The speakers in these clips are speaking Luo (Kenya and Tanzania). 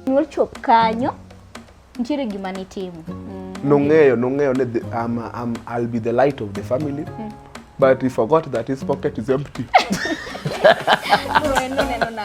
Nyuol chop kanyo nitiere gima nitimo. Mm. Nong'eyo, nong'eyo ni the- I'm, I'm, I'll be the light of the family. Mm. But he forgot that his pocket is empty. Neno neno na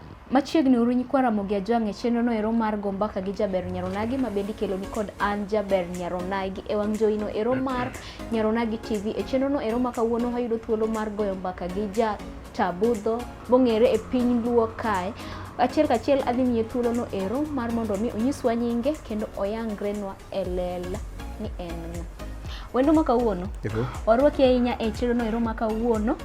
Machiegni uru nyikwa Ramogi Ajwang' e chenro no ero mar go mbaka gi Jaber Nyaronagi ma bende ikelo ni kod an Jaber Nyaronagi e wang' joino ero mar Nyaronagi TV. E chenro no ero ma kawuono wayudo thuolo mar goyo mbaka gi ja Tabudho mong'ere e piny Luo kae. Achiel kachiel adhi miye thuolo no ero mar mondo mi onyiswa nyinge kendo oyangrenwa e lela ni en ng'a wendo ma kawuono warwaki ahinya e chenrono ero ma kawuono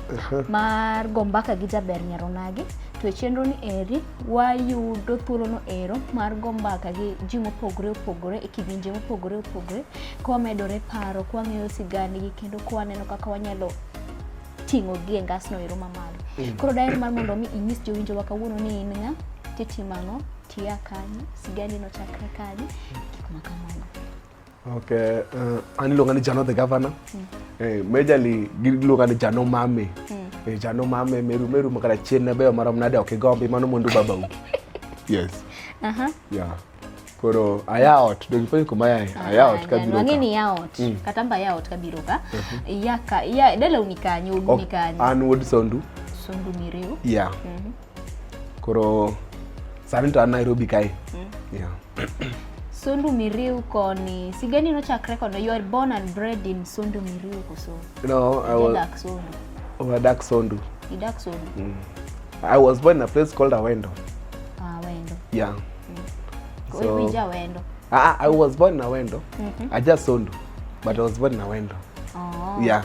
mar go mbaka gi jaber nyaronagi to e chenroni eri wayudo thuolono ero mar go mbaka gi ji mopogore opogore e kidienje mopogore opogore kwamedore paro kwang'eyo sigandgi kendo kwaneno kaka wanyalo ting'o gi e ngasno ero mamalo mm. koro daher mar mondo mi inyis jowinjowa kawuono ni in ng'a titimo ang'o tiya kanyo sigani nochakre kanye gik ma kamano okay uh, an iluonga ni jano the governor mm. eh, majorly giluonga ni jano mame mm. eh, jano mame meru meru makara chien na beyo marom nade ok igombi mano mwandu babau yes uh -huh. yeah koro ayaot donge poni kuma yae ah, ayaot kabiro ka mang'eni yaot mm. kata mba yaot kabiro ka mhm. yaka ya dala unikanyo unikanyo an wuod sondu sondu miriu yeah mm -hmm. Koro sani to an Nairobi kae. Mm. Yeah. Sondu Miriu koni sigani nochakre kono you are born and bred in Sondu Miriu koso? No, I was Dak Sondu. Oh, I Dak Sondu. You Dak Sondu. Mm. I was born in a place called Awendo. Ah, Awendo. Yeah. Mm. So, Wewe Awendo. Ah, ah, I was born in Awendo. Mm -hmm. I just Sondu, but I was born in Awendo. Oh. Yeah.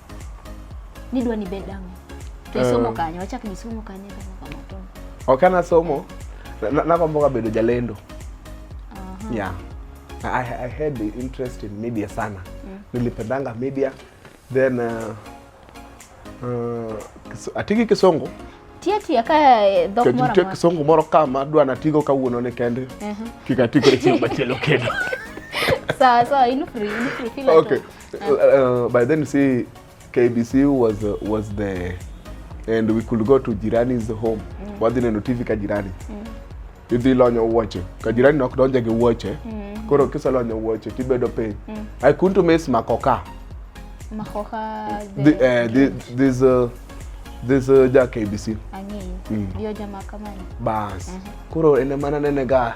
Nidwa ni bed ang'o? To isomo eh. kanye? Wachak ni somo kanye kama kama to. Ok ana somo. Nagombo ka bedo jalendo. Aha. Yeah. I, I had the interest in media sana. Mm. Nilipendanga media. Then uh, uh, atiki kisongo tiatia ka eh, dhok moro amora. Kisongo moro kama adwa natigo kawuono ne kende. Uh -huh. Kik atikore chieng' machielo kendo. Sawa sawa, in free, in free. Okay. Uh, uh, by then, see, KBC was uh, was the and we could go to Jirani's home. Mm. Wadhi neno TV ka jirani. Mm. Idhi lonyo wuoche. Ka jirani nok donje gi wuoche. Mm. Koro kisa lonyo wuoche tibedo piny. Mm. I couldn't miss makoka. Makoka the, the, uh, the this uh, this uh, ja KBC. Ang'eyo. Mm. Dio jamaa kama ni. Bas. Mm -hmm. Koro ene mana nene ga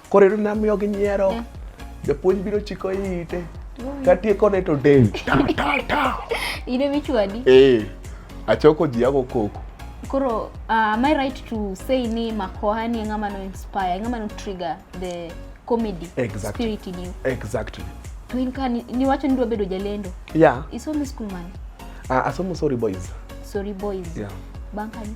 Koro ero namiyo gi nyiero. Mm. Japuonj biro chiko ite. Katieko ne to del. Ta ta ta. Ine michwadi. Eh. Achoko ji yako koko. Koro uh, am I right to say ni Makoha ni ngama no inspire, ngama no trigger the comedy exactly. spirit in you. Exactly. To in ka ni, ni wacho ni dwa bedo jalendo. Yeah. Isomo school man. Ah, uh, asomo sorry boys. Sorry boys. Yeah. Bankani.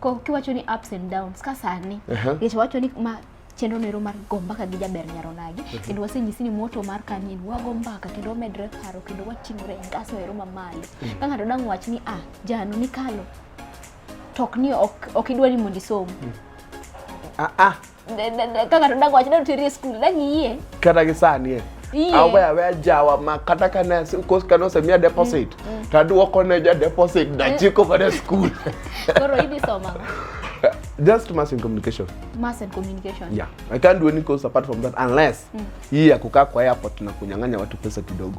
Ko kiwacho ni ups and downs ka sani. Uh -huh. Nikech wacho ni ma chenro nero mar go mbaka gi jaber nyaro nagi mhm. kendo wasenyisi ni moto mar kanyin wago mbaka kendo wamedre paro kendo wating'ore e ngaso ero mamalo mhm. ka ng'ato dang' wach ni ah jano ni kalo to ok ni ok idwa ni mondo isom mhm. ah, ah. kaka todak wach dwa teri e skul dak iyie kata gi sani e awe awe ajawa ma kata ka ne kos ka nosemiya mm, deposit mm. to aduoko ne ja deposit dachiko eh. mana skul koro idhi soma just mass in communication mass in communication yeah i can't do any course apart from that unless mm. hii ya kukaa kwa airport na kunyang'anya watu pesa kidogo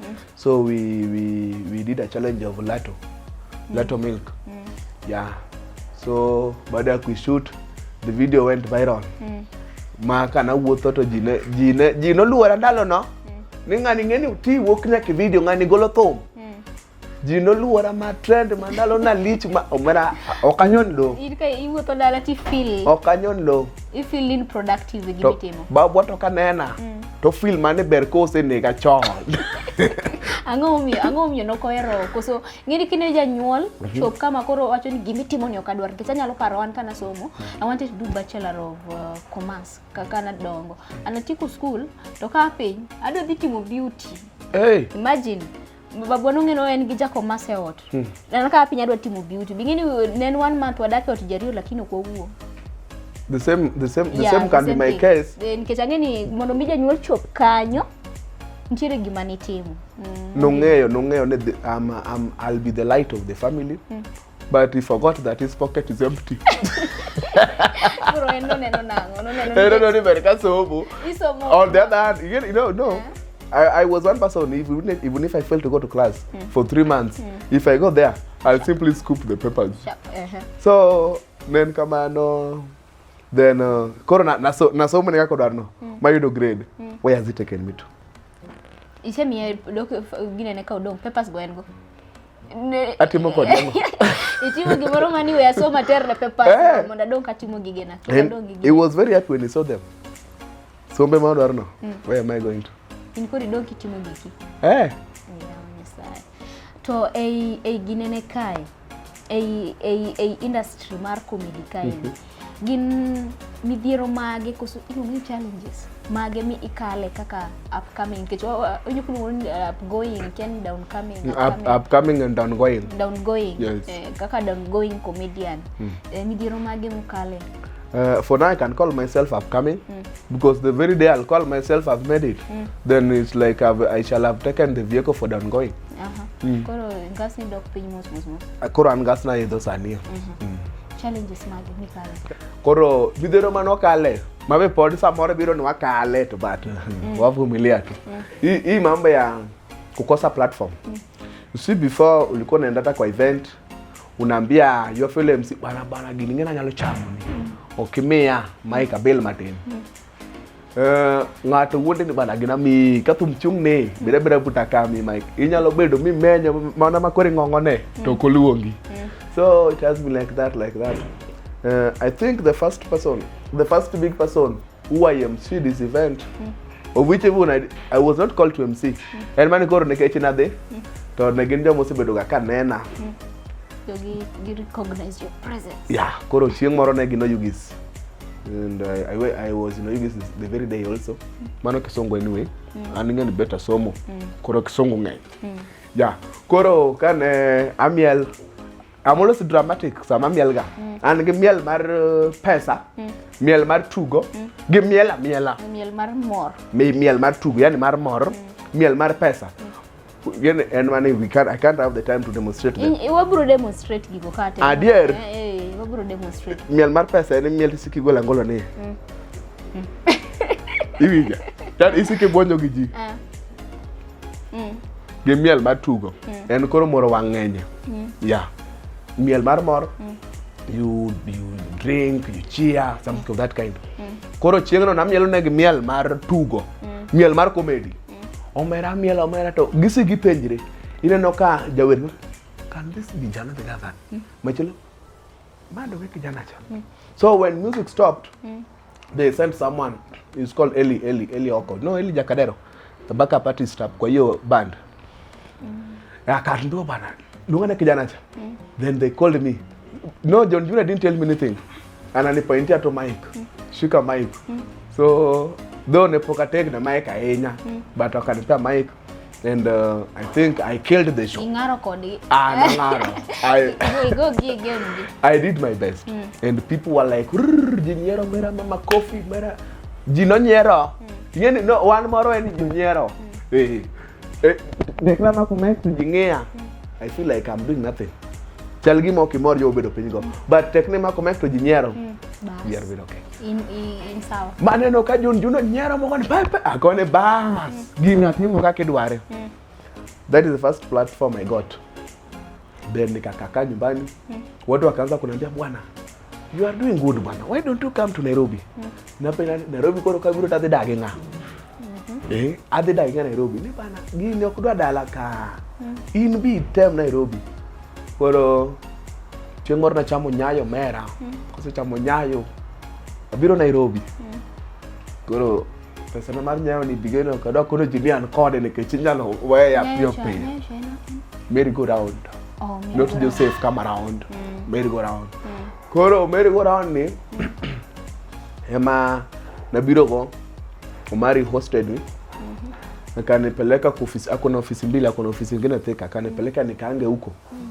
Mm. So we, we, we did a challenge of Lato. Mm. Lato milk. Mm. Yeah. So baada ya kuishoot the video went viral. Mm. Ma kana wuotho to ji ne ji ne ji noluora ndalo no. Mm. Ni ng'ani ng'eni ti wuok nyaka video ng'ani golo thum. ji noluora ma trend ma ndalo na lich ma omera ok anyon lo iwuotho dala ti feel ok anyon lo i feel in productive gi bitimo babwa to kanena mm. to film mane ber ka osenega chon ang'o momiyo ang'o momiyo nok ohero koso ng'eni kine janyuol mhm. chop kama koro wacho ni gima itimo ni ok adwar nikech anyalo paro an kana somo mhm. i wanted to do bachelor of uh, commerce kaka nadongo anatieko school to kaa piny adwa dhi timo beauty hey. imagine babwa nong'eno en gi jakomase ot hmm. neno kaka piny adwa timo beauty bing'eni ne en one month wadak e ot jariyo lakini ok wawuo the same the same the yeah, same can be my thing. case eh, nikech ang'e ni mondo mi janyuol chop kanyo nitiere gima nitimo mm. nong'eyo nong'eyo ni I'm, I'm, I'll be the light of the family mm. but he forgot that his pocket is empty Bro, en no neno nango, no neno. Eh, no, no, ni ber ka somo Isomo. on the other hand you you know no I, I was one person even if, even if I failed to go to class for three months if I go there I'll simply scoop the papers Sha- ehe. so nen kamano then uh, koro na- naso- nasomo ne kaka odwarno mayudo grade where has it taken me to Isemiye dok ginene ka odong papers go en go. atimo kod ang'o itimo gimoro ma ni we asoma aterre papers Eh. mondo adong katimo gigena Kik And adong gi he gigena was very happy when he saw them sombe ma odwarno where am i going to in koro idong kitimo giki eh Yawa Nyasaye. to ei ei ginene kae ei ei ei industry mar comedy kae Gin midhiero mage koso iluongo ni challenges mage mi ikale kaka upcoming nikech onyo kuluongo ni uh, upgoing kiani downcoming upcoming and downgoing downgoing yes. eh, kaka downgoing comedian mm. eh, midhiero mage mukale Uh, for now, I can call myself upcoming mm. because the very day I'll call myself I've made it, mm. then it's like I've, I shall have taken the vehicle for downgoing. Aha. Mm. Koro ngas ni dok piny mos mos mos. koro an ngas naidho sani Mm. Challenges mage mikale? koro midhero mane wakale mabe pod samoro biro ni wakale to but wavumilia tu hii hii mambo ya kukosa platform you see before ulikuwa unaenda hata kwa event unaambia your fellow MC bana bana gini ngena nyalo chamo ni okimia Mike Abel Martin Eh, ng'ato wuonde ni bana gina mi ka thum chung ni bira bira buta ka mi mike inyalo bedo mi menyo mana ma kori ng'ongo ne mm. to koluongi mm. so it has been like that like that uh, i think the first person the first big person who i am see this event mm. of which even I, i was not called to mc mm. en mani koro nikech nadhi mm. to ne gin joma osebedoga ka nena mm. yeah koro chieng' moro ne gin oyugis and I, I, I was you know, using this the very day also mano kisongo anyway mm. an ing'eni better somo mm. koro kisongo ng'eny mm. yeah koro kane amiel I'm always dramatic sama miel ga mm. an gi miel mar uh, pesa mm. miel mar tugo mm. gi miel amiela miel mar mor mi miel mar tugo yani mar mor mm. miel mar pesa mm. Again, and money we can't I can't have the time to demonstrate them. In wabro demonstrate gigo kate. Adier. Eh, eh wabro demonstrate. Miel mar pesa en miel siki gola ngolo ni. Mm. mm. Iwija. Tan isike bonyo gi ji. Ah. Mm. Gi miel mar tugo. Mm. En koro moro wang'enye. Mm. Yeah. Miel mar mor. Mm. You you drink, you cheer, something mm. of that kind. Mm. Koro chieng'no namielo ne gi miel mar tugo. Mm. Miel mar comedy. omera miel omera to gisi gipenjre ineno ka jawer ma can this be jana be that mm. machelo bado we kijana cha mm. so when music stopped mm. they sent someone is called Eli Eli Eli Oko no Eli Jakadero the backup artist kwa hiyo band mm. akatndio bana dungana kijana cha mm. then they called me no John Junior didn't tell me anything ananipointia to mic mm. shika mic mm. so though nepokatek na mic ahinya mm. but akanipea mic and uh, I think I killed the show. Ingaro kodi. Ah, nangaro. I go gig I did my best. Mm. And people were like, "Jinyero mera mama coffee mera." Jino nyero. Mm. Ingeni no one moro en jino nyero. Mm. Eh. Eh, Dekla mako mic to ji ng'eya. I feel like I'm doing nothing. Chal gima ok imor jo obedo piny go. But tekne mako mic to ji nyiero. Bas. Nyiero bedo okay. In, in, in sawa. Maneno ka Jun Juno nyiero moko ni pepe akone bas. Gini atimo kaka idware. That is the first platform I got. Then nikakakaa nyumbani mm. Watu wakaanza kuniambia bwana, you are doing good bwana, why don't you come to Nairobi mm. Napenda Nairobi koro kabiro tadhi dage ng'a mm -hmm. Eh, adhi dage ng'a Nairobi ni bana gini ok dwa dala ka mm. In bi tem Nairobi koro chieng' moro nachamo nyayo mera mm. Kosechamo nyayo abiro Nairobi mm. Koro pesa na mar nyawo ni bigeno ka dok kono ji ni an kode nikech inyalo weye ya piyo piyo merry go round oh, not joseph come around mm. merry go round mm. koro merry go round ni mm. ema nabiro go omari hosted me mm-hmm. akanipeleka kwa ofisi, ako na ofisi mbili, ako na ofisi ingine Thika, akanipeleka nikaange huko mm.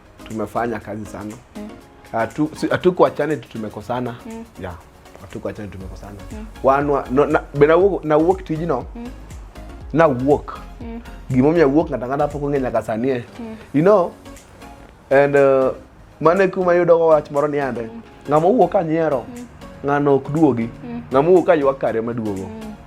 Tumefanya kazi sana mm. Atu, si, hatukuachane tu tumekosana mm. yeah. Hatukuachane tumekosana mm. Wanwa no, na, bena walk, na walk to you know mm. na walk mm. gimomiyo awuok ng'ato ang'ata pok ong'e nyaka sanie mm. you know and uh, mane kuma yudogo wach moro niande mm. ng'ama owuok ka nyiero mm. ng'ano ok duogi mm. ng'ama owuok ka ywak kare maduogo mm.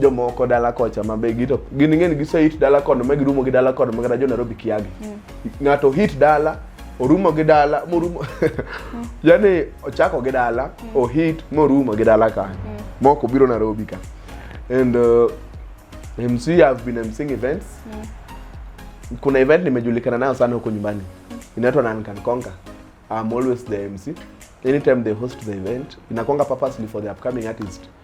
jomoko dala kocha ma be gito gin ng'eni gise hit dala kono ma girumo gi dala kono ma kata jo Nairobi kiagi mm. ng'ato hit dala orumo gi dala morumo mm. yani ochako gi dala mm. o hit morumo gi dala kanyo mm. moko biro Nairobi ka and uh, MC have been MCing events mm. kuna event nimejulikana nayo sana huko nyumbani mm. inaitwa None Can Conquer I'm always the MC anytime they host the event inakwanga purposely for the upcoming artist mm.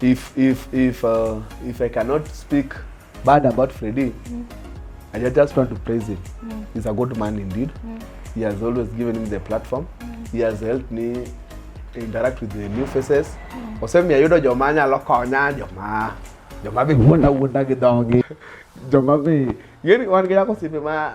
If if if uh, if I cannot speak bad about Freddy, mm. I just want to praise him. Mm. He's a good man indeed. Mm. He has always given him the platform. Mm. He has helped me interact with the new faces. Mm. Osemi ayudo joma nyalo konya joma joma be wuonda wuonda gi dhogi. Joma be yeni wan gi yako sipe ma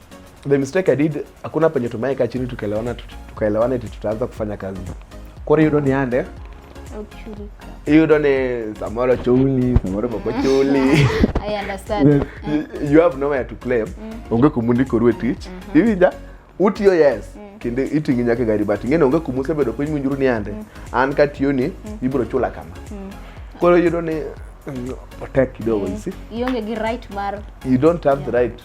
the mistake I did, hakuna penye tumeweka chini tukaelewana, tukaelewana eti tutaanza kufanya kazi kore yudo ni ande yudo ni samoro chuli samoro boko chuli you have nowhere to claim mm. onge kumundiko ruwe tich mm -hmm. iwinja utiyo yes mm. kendo iting'i nyaka gari but ing'eni onge kumusebedo piny winjuru ni ande mm. an katiyoni mm. ibiro chula kama mm. koro yudo ni otek kidogo mm. you see ionge gi right mar you don't have yeah. the right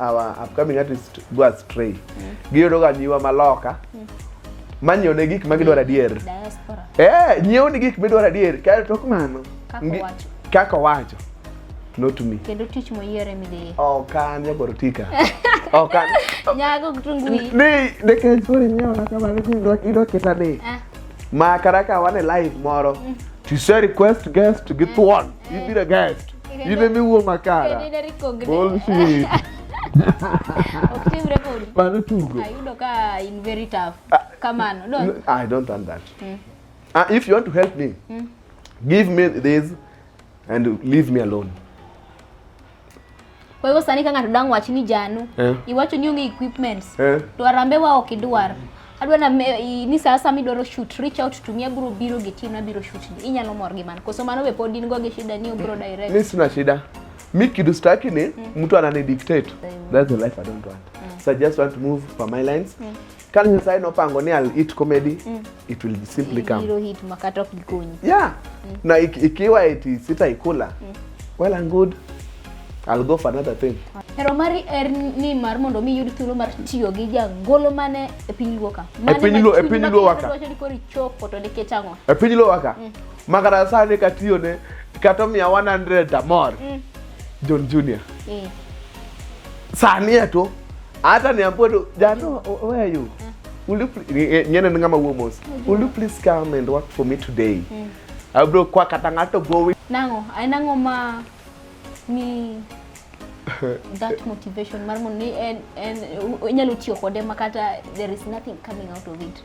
our upcoming artist go astray mm. giyudo ga nyiwa maloka mm. manyo ne gik ma gidwaro adier diaspora eh nyiew ni gik midwaro adier kae tok mano kaka wacho not to me kendo tich moyiere midhiye ok an jagoro tika ok an nyago kitungu ni ne kech kore nyiewo na kamano kindo kindo kita ni eh. ma karaka wane live moro mm. to say request guest to get mm. one E eh. vira gasto. E vem meu uma cara. Bullshit. Oktimre kodi. Mano tugo. Ayudo ka in very tough. Ah, Kamano. Don't. I don't want that. Mm. Uh, if you want to help me, mm. give me this and leave me alone. Kwa hivyo sani kanga tudang wachini janu. Eh. Iwacho ni onge equipments. Eh. To arambe wa ok idwar. Adwa na me, i, ni saa sama idwaro shoot reach out to me abiro biro gi team na biro shoot. Inyalo mor gi man. Koso mano be pod in go gi shida ni obro direct. Mimi sina shida. Mi kidu staki ni mm. mtu anani dictate. That's the life I don't want. Mm. So I just want to move for my lines. Mm. Kane Nyasaye nopango ni I'll eat comedy, mm. it will simply come. Ibiro hit makata ok gikonyi. Yeah. Mm. Na ik, ikiwa eti sitaikula. Mm. Well and good. I'll go for another thing. Hero mari er ni mar mondo mi yud thuolo mar tiyo gi jangolo mane e piny luo ka. E piny luo, e piny luo waka. Wacho ni kori chopo to nikech ang'o? E piny luo waka. Mm. Makata sani katiyo ne kata mia 100 amor. Mm. John Junior. Mm. Sani eto. Hata niambie tu Jano, where are you? Will you eh, nyene ni ngama uwo mos. Mm-hmm. Will you please come and work for me today? Mm. Abro kwa katangato going. Nango, ay nango ma ni that motivation marmo ni en en inyalo tiyo kode makata there is nothing coming out of it.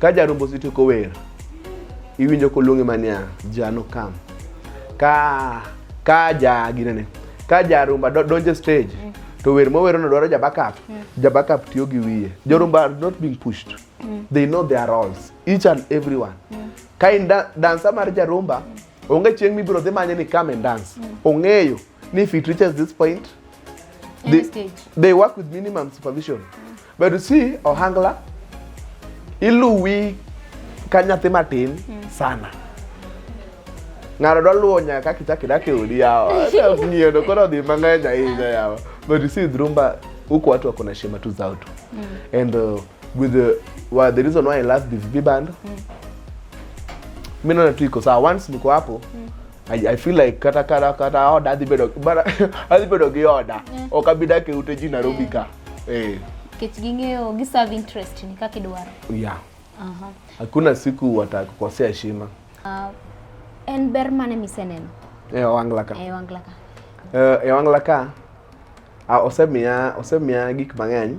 ka jarombo osetieko wer iwinjo koluonge mania jano kam ka ka ja ginene ka jarumba donje stage mm. to wer mowero no dwaro jabackup mm. jabackup tiyo gi wiye jorumba are not being pushed mm. they know their roles each and everyone mm. ka in da dansa mar jarumba mm. onge chieng' mibiro dhi manye ni come and dance mm. ong'eyo ni if it reaches this point they, they work with minimum supervision mm. But you see, Ohangla, iluwi ka nyathi matin mm. sana. Ng'ato dwa luwo nyaka kaka ichako idak e odi yawa. Ng'iyono koro odhi mang'eny ahinya yawa. But you see, Drumba, huku watu wako na heshima tu zao tu. Mm. And uh, with the, well, the reason why I love the VB band, mm. mimi naona tu iko sawa. Once niko hapo, mm. I, I feel like kata kata kata oda adhi bedo bara adhi bedo gi oda mm. ok abi dak e ute ji Nairobi ka eh kech ging'eyo gi serve interest ni kaka idwaro yeah aha hakuna siku watakukosea heshima uh, en ber mane miseneno e wangla ka e wangla ka uh, e wangla ka uh, osemiya osemiya gik mang'eny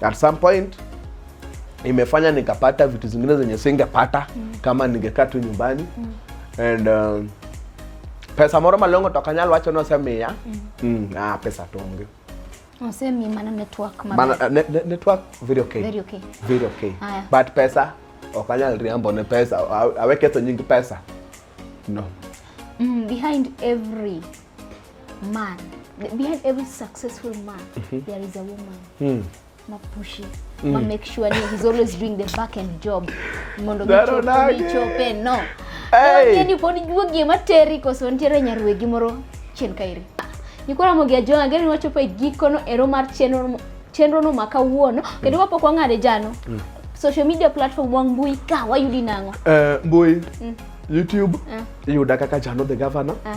at some point imefanya nikapata vitu zingine zenye singepata mm. kama ningekaa tu nyumbani mm. and um, pesa moro malongo to kanyal wacho ni osemiya mm. mm, ah, pesa to onge osemi mana network mana, uh, ne, ne, network very okay. Very okay. Very okay. Aya. but pesa ok anyal riambo ne pesa awe ketho nying pesa no mm, behind every man behind every successful man mm -hmm. there is a woman mm. mapushi mm. ma make sure ni he's always doing the back end job mondo gichope no hey. ni pod juo gima teri koso nitiere nyarwegi moro chien kairi nikora mogia jo angeri wachopo e gikono ero mar chenro chenro no maka wuono kendo wapok wang'ade jano mm. social media platform wang mbui ka wayudi nang'o uh, mbui mm. youtube uh. yuda kaka jano the governor uh.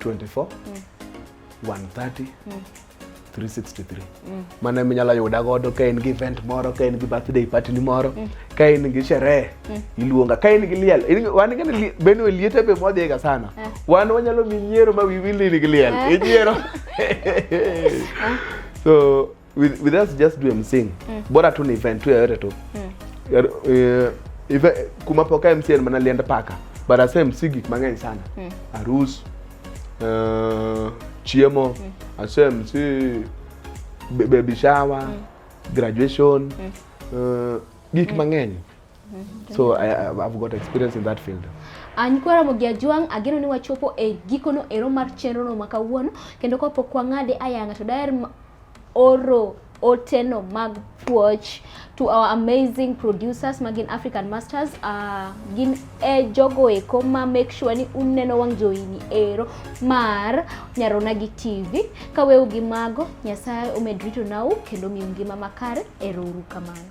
24 130 363 mano ema inyalo yuda godo ka in gi event moro ka in gi birthday party ni moro ka in gi sherehe iluonga ka in gi liel in- wan ngene li- bende liete be modhiga sana wan wanyalo mi nyiero ma wiwi lili gi liel inyiero so with, with us just do msing mm. bora tu ni event tu yoyote tu mm. uh, ive, kumapoka msing mana lienda paka but ase msing gik mang'eny sana mm. arus uh, eh, chiemo mm. ase msi baby shower mm. graduation mm. uh, gik mm. mang'eny so I, I've got experience in that field Anyikwara Mugia Juang ageno ni wachopo e gikono ero mar chenro no ma kawuono kendo kapok wang'ade ayanga to daher oro oteno mag puoch to our amazing producers magin African Masters uh, gin e jogo eko ma make sure ni uneno wang' joini ero mar Nyarona gi TV kaweu gi mago Nyasaye omed rito nau kendo miu ngima makare ero uru kamano